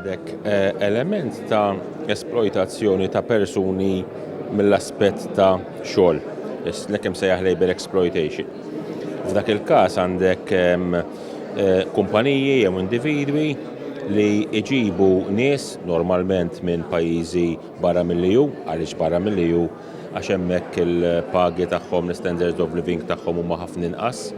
Għandek eh, element ta' esploitazzjoni ta' persuni mill-aspett ta' xogħol, l-ekem sejjaħ labor exploitation. F'dak il-każ għandek ehm, eh, kumpaniji jew individwi li iġibu nies normalment minn pajjiżi barra mill-EU, għaliex barra mill-EU għax hemmhekk il-pagi tagħhom, l-standards of living tagħhom huma ħafna inqas.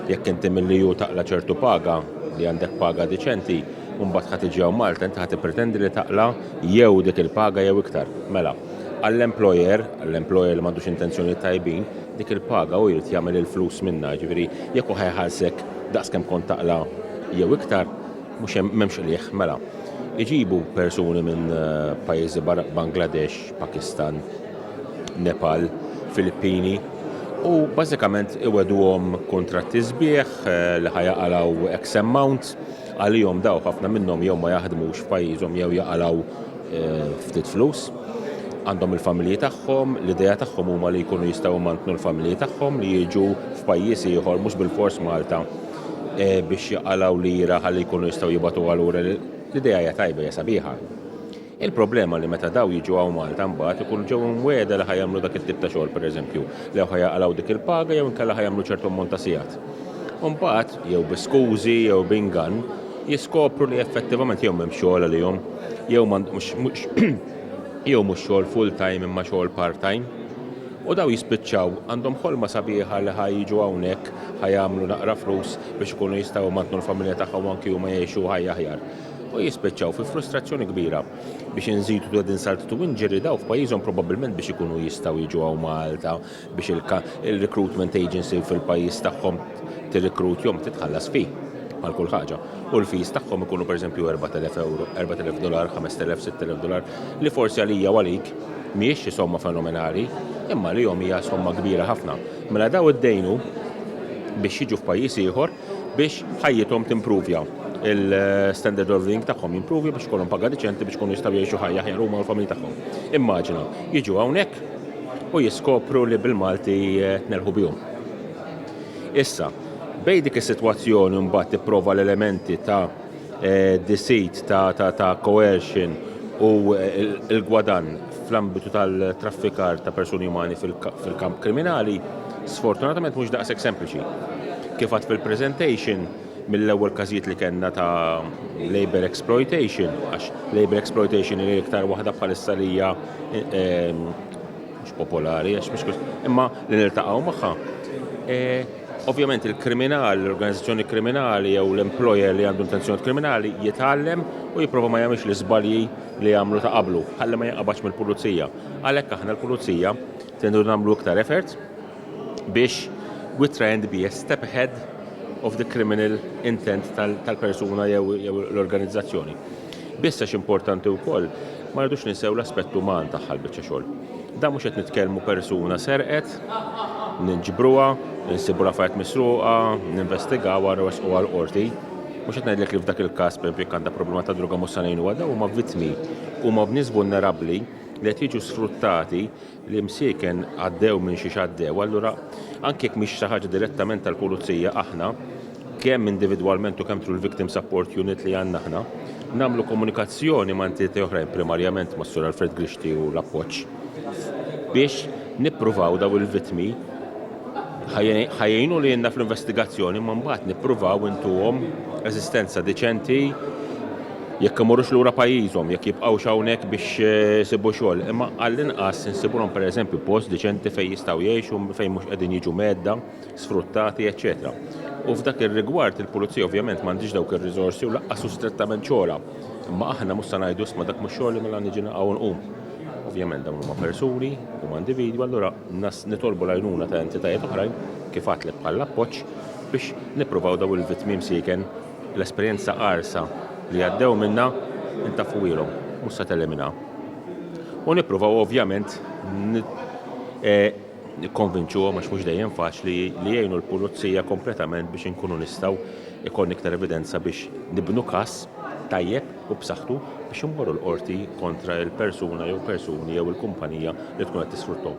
Jekk inti mill-EU taqla' ċertu paga, li għandek paga diċenti, u mbagħad ħa tiġi hawn Malta, inti ħa tippretendi li taqla' jew dik il-paga jew iktar. Mela, għall-employer, għall-employer li m'għandux intenzjonijiet tajbin, dik il-paga hu jrid jagħmel il-flus minnha, jiġifieri jekk hu ħa jħallsek daqs kemm kont taqla' jew iktar, mhux hemm, m'hemmx qligħ. Mela, iġibu persuni minn pajjiżi barra, Bangladesh, Pakistan, Nepal, Filippini u bażikament iweduhom kuntratti sbieħ li ħa jaqalgħu X amount għalihom dawk ħafna minnhom jew ma jaħdmux f'pajjiżhom jew jaqalgħu ftit flus. Għandhom il-familji tagħhom, l-idea tagħhom huma li jkunu jistgħu imantnu l-familji tagħhom li jiġu f'pajjiż ieħor mhux bilfors Malta biex jaqalgħu lira ħalli jkunu jistgħu jibgħatuha lura. L-idea hija tajba hija sabiħa. Il-problema li meta dawn jiġu hawn Malta mbagħad ikunu ġew imwiegħda li ħa jagħmlu dak it-tip ta' xogħol pereżempju, li ħa jaqalgħu dik il-paga jew inkella ħa jagħmlu ċertu ammont ta' sigħat. U mbagħad, jew bi skużi jew b'ingann, jiskopru li effettivament jew m'hemmx xogħol għalihom, jew m'għandhomx jew mhux xogħol full-time imma xogħol part-time. U dawn jispiċċaw għandhom ħolma sabiħa li ħa jiġu hawnhekk, ħa jagħmlu naqra flus biex ikunu jistgħu jmantnu l-familja tagħhom u anki huma jgħixu ħajja aħjar. u jispiċċaw fi frustrazzjoni kbira biex inżidu ta' din saltitu inġeri daw f'pajjiżhom probabbilment biex ikunu jistgħu jiġu hawn Malta biex il-recruitment agency fil-pajjiż tagħhom tirrikrut jom titħallas fi għal kull ħaġa. U l-fees tagħhom ikunu pereżempju 4000 euro, 4000 dolar, 5000, 6000 dolar, li forsi għalija u għalik mhijiex xi somma fenomenali, imma li jom hija somma kbira ħafna. Mela daw id-dejnu biex jiġu f'pajjiż ieħor biex ħajjithom timpruvja, il-standard of living tagħhom jimpruvja biex ikollhom paga diċenti biex ikunu jistgħu jgħixu ħajja aħjar huma u l-familji tagħhom. Immaġina, jiġu hawnhekk u jiskopru li bil-Malti eh, tnerħu bihom. Issa, bej dik is-sitwazzjoni mbagħad tipprova l-elementi ta' eh, deceit, ta', ta, ta coercion u l-gwadann fl-ambitu tal-traffikar ta' persuni umani fil-kamp kriminali, sfortunatament mhux daqshekk sempliċi. Kif għad fil-presentation, mill-ewwel każijiet li kellna ta' labor exploitation, għax labor exploitation hija iktar waħda bħalissa li hija ehm, mhux popolari għax mhux kux, imma li niltaqgħu magħha. E, ovvjament il-kriminal, l-organizzazzjoni kriminali jew l-employer li għandu intenzjoni kriminali jitgħallem u jipprova ma jagħmilx l-iżbalji li jagħmlu ta' qablu, ħalli ma jinqabadx mill-pulizija. Għalhekk aħna l-pulizija tendu nagħmlu iktar effort biex we try and be a step ahead of the criminal intent tal-persuna jew l-organizzazzjoni. Biss għax importanti wkoll ma rridux ninsew l-aspett uman tagħha l-biċċa xogħol. Da mhux qed nitkellmu persuna serqet, ninġbruha, insibu l-affarijiet misruqa, ninvestigawha nresquha l-qorti. Mhux qed ngħidlek li f'dak il-każ pereżempju jekk għandha problema ta' droga mhux se ngħinuha, dawn huma vittmi, huma nies vulnerabbli li qed jiġu sfruttati l-imsieken għaddew minn xiex għaddew, allura anke jekk mhix xi ħaġa direttament tal-pulizija aħna, kemm individwalment u kemm through l-victim support unit li għandna aħna, nagħmlu komunikazzjoni ma' entitajiet oħrajn primarjament ma' Sur Alfred Grixti u l-appoġġ biex nippruvaw dawn il-vittmi Ħa jgħinu lilna fl-investigazzjoni imma mbagħad nippruvaw intuhom eżistenza diċenti jekk imorrux lura pajjiżhom, jekk jibqgħux hawnhekk biex isibu eh, xogħol, imma għall-inqas insibulhom pereżempju post diċenti fejn jistgħu jgħixu, fejn mhux qegħdin jiġu medda, sfruttati, eċċetera. U f'dak ir-rigward il-pulizija ovvjament m'għandix dawk ir-riżorsi u laqqas hu strettament xogħolha. Imma aħna mhux se ngħidu isma' dak mhux xogħli mela niġi naqgħu nqum. Ovvjament dawn huma persuni, huma individwi, allura nas nitolbu l-għajnuna ta' entitajiet oħrajn kif għadtlek bħall-appoġġ biex nippruvaw dawn il-vittmi msieken l-esperjenza qarsa li għaddew minnha ntaffuhielhom, mhux se teliminha. U nippruvaw ovvjament nikkonvinċuhom, għax mhux dejjem faċli, li jgħinu l-pulizija kompletament biex inkunu nistgħu jkollna iktar evidenza biex nibnu każ tajjeb u b'saħħtu biex immorru l-qorti kontra l-persuna jew persuni jew il-kumpanija li tkun qed tisfruttahom.